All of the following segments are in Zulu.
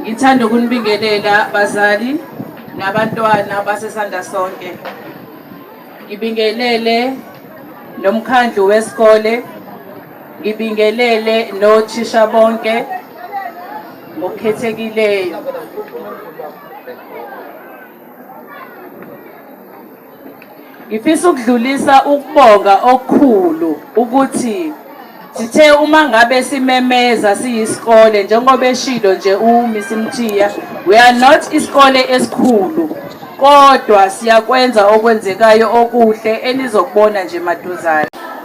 Ngithanda ukunibingelela bazali nabantwana basesanda sonke. Ngibingelele nomkhandlu wesikole, ngibingelele nothisha bonke ngokukhethekileyo. Ngifisa ukudlulisa ukubonga okukhulu ukuthi sithe uma ngabe simemeza siyisikole njengoba eshilo nje uMiss Mthiya we are not isikole esikhulu kodwa siyakwenza okwenzekayo okuhle enizokubona nje maduzane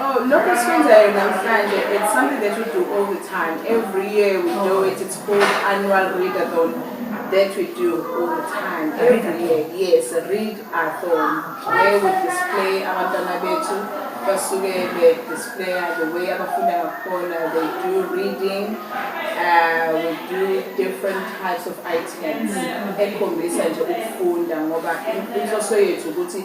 Oh, lokho sikwenzayo namhlanje it's something that we do all the time every year we do oh. it it's called annual readathon that we do all the time every year yes read athon where we display abantwana bethu basuke be-displaya the way abafunda ngakhona they do reading uh, we do different types of items ekhombisa nje ukufunda ngoba inhloso yethu ukuthi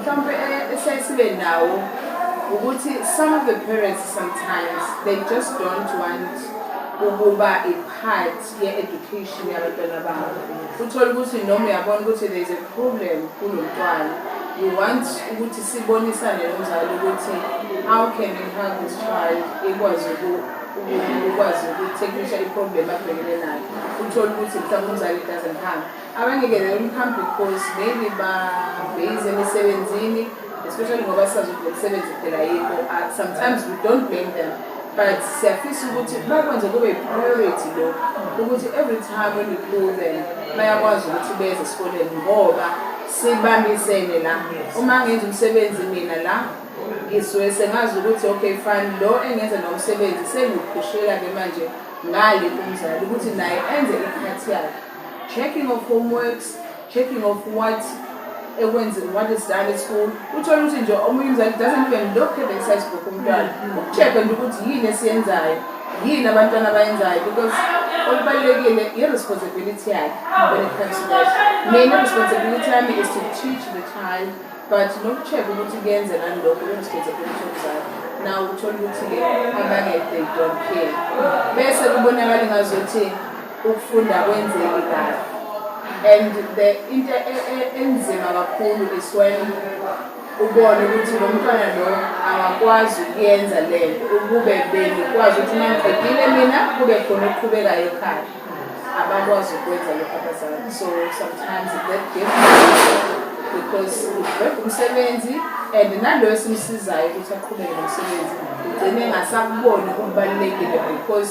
mhlawumpe eh, esiyaye sibe nawo ukuthi some of the parents sometimes they just don't want ukuba i-part ye-education yabantwana babo uthole ukuthi noma uyabona ukuthi there is a problem kulo mntwana you want ukuthi sibonisane nomzali ukuthi how can we help this child ikwazi ukwazi ukuthekisha i-problem abhekene nayo uthole ukuthi mhlawumbe umzali doesn't have Abanikele umphambili course maybe ba base emisebenzini especially ngoba sazi ukuthi umsebenzi phela yikho uh, sometimes we don't blame them but siyafisa ukuthi bakwenze kube priority lo ukuthi every time when we call them bayakwazi ukuthi beze esikoleni ngoba sibambisene la uma ngenza umsebenzi mina la ngisuke sengazi ukuthi okay fine lo engenza nomsebenzi sengikhushela ke manje ngale kumzali ukuthi naye enze ikhathi yakhe checking of homeworks checking of what ekwenziwa what is done at school uthole ukuthi nje omunye umzali doesn't even look at the exercise book umntwana mm-hmm. ukucheck-a nje ukuthi yini esiyenzayo yini abantwana abayenzayo because olubalulekile i-responsibility yakhe when it comes to that mina responsibility yami is to teach the child but nokucheck ukuthi kuyenze nani lokho i-responsibility yomzali naw uthole ukuthi-ke abanye they don't care bese kubonakala ingazuthi ukufunda kwenzeki kahle and the into e, e, enzima kakhulu is when ubone ukuthi lo mntwana lo akakwazi ukuyenza le nto ukube benikwazi ukuthi nangiqedile mina kube khona okuqhubekayo ekhaya abakwazi ukwenza lokho abazali so sometimes that gift because ubheka umsebenzi and nalo esimsizayo ukuthi aqhubeke nomsebenzi ugcine engasakuboni okubalulekile because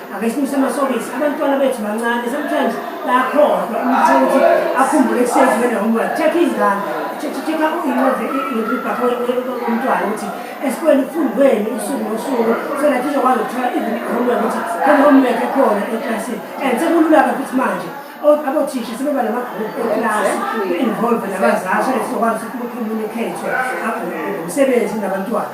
Ake simise amasokisi, abantwana bethu bancane, sometimes bayakhohlwa umuntu ukuthi akhumbule kusezi wena homework. Check izingane, check incwadi ibhakho umntwana ukuthi esikoleni kufundweni usuku nosuku so that izokwazi ukuthola even homework ukuthi khona homework ekhona eklasini and sekulula-ke futhi manje abothisha sebeba namagroup eklasi ku-involve nabazali so that sizokwazi ukuthi kukhulunyukhethwe umsebenzi nabantwana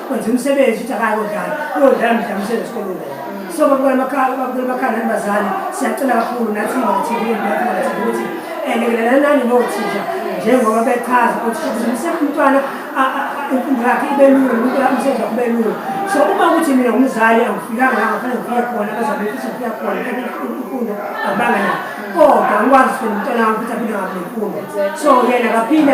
kwenza umsebenzi ukuthi akayi kodlala uyodlala mdlamisele esikolweni so babukela amakhala babukela amakhala nabazali siyacela kakhulu nathi ngokuthini nathi ngokuthini ukuthi elekelelelani nothisha njengoba bechaza ukuthi umsebenzi umntwana imfundo yakhe ibe lula nomuntu umsebenzi wakhe ube lula so uma ukuthi mina ngumzali angifikanga la ngafanele ngifike khona abazali befisa ngifika khona imfundo abanga nayo kodwa ngikwazi ukuthi umntwana wami ukuthi aphinde ngabe nemfundo so yena kaphinde